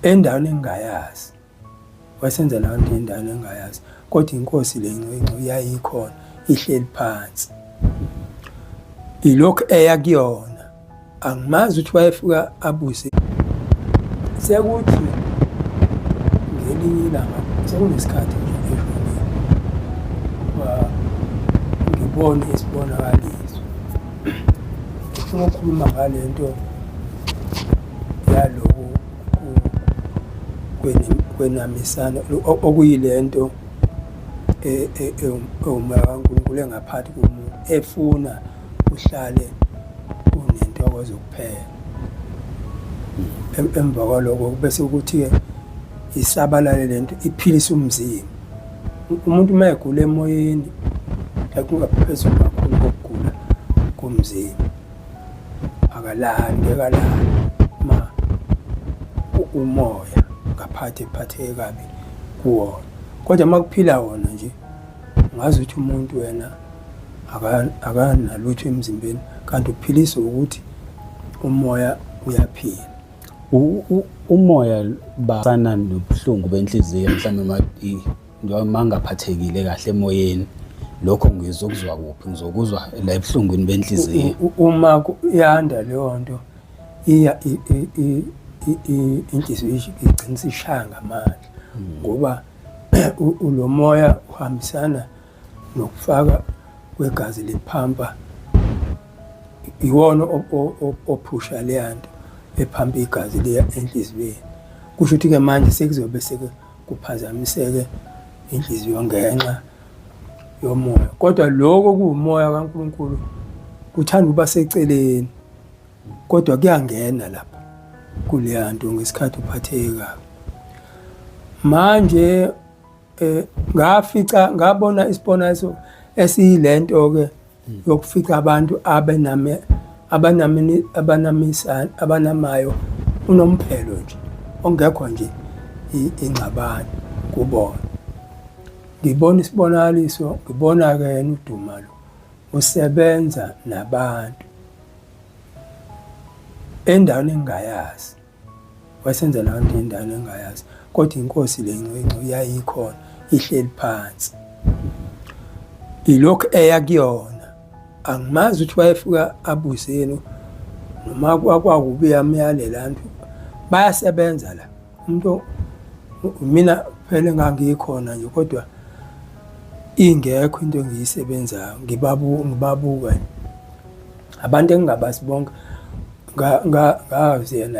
endaweni engingayazi wayesenza leyo nto endaweni engingayazi kodwa inkosi le ncinci yayikhona ihleli phansi ilokhu eya kuyona angimazi ukuthi wayefika abuse sekuthi ngelinye ilanga sekunesikhathi nje ngibone isibonakaliso ufuna ukukhuluma ngale nto yaloku kwenamisana okuyile nto e-, e-, e-, uma kaNkulunkulu engaphathi komuntu efuna uhlale unentokozo kuphela emva kwaloko bese ukuthi-ke isabalale le nto iphilisa umzimba umuntu uma egula emoyeni ekungaphezulu kakhulu kokugula komzimba akalali ngekalali ma umoya ngaphathi ephatheke kabi kuwona kodwa uma kuphila wona nje ngazi ukuthi umuntu wena akanalutho emzimbeni kanti uphiliswa ukuthi umoya uyaphila umoya basana nobuhlungu benhliziyo mhlawumbe noma ngaphathekile kahle emoyeni lokho ngizokuzwa kuphi ngizokuzwa la ebuhlungwini benhliziyo uma yanda leyo nto iya inhliziyo igcina isishaya ngamandla hmm. ngoba lo moya uhambisana nokufaka kwegazi lephampa iwona ophusha leya nto ephampa igazi liya enhliziyweni kusho ukuthi-ke manje sekuzobe seke kuphazamiseke inhliziyo ngenxa yomoya kodwa lokho kuwumoya kaNkulunkulu kuthanda ukuba seceleni kodwa kuyangena lapha kuleya nto ngesikhathi uphatheke kabi manje eh ngafica ngabona isibona eso esiyilento ke yokufica abantu abename abanamini abanamisa abanamayo unomphelo nje ongekho nje ingxabano kubona ngibona isibonakaliso ngibona ke yena uduma lo usebenza nabantu endaweni engingayazi Wasenza laa nto indala engayazi kodwa inkosi le ncinci yayikhona ihleli phansi ilokhu eya kuyona angimazi ukuthi wayefika abuzeni noma kwakubi yamyalela nto bayasebenza la umuntu mina phela engangikhona nje kodwa ingekho into engiyisebenzayo ngibabu ngibabuka abantu engingabazi bonke ngazi yena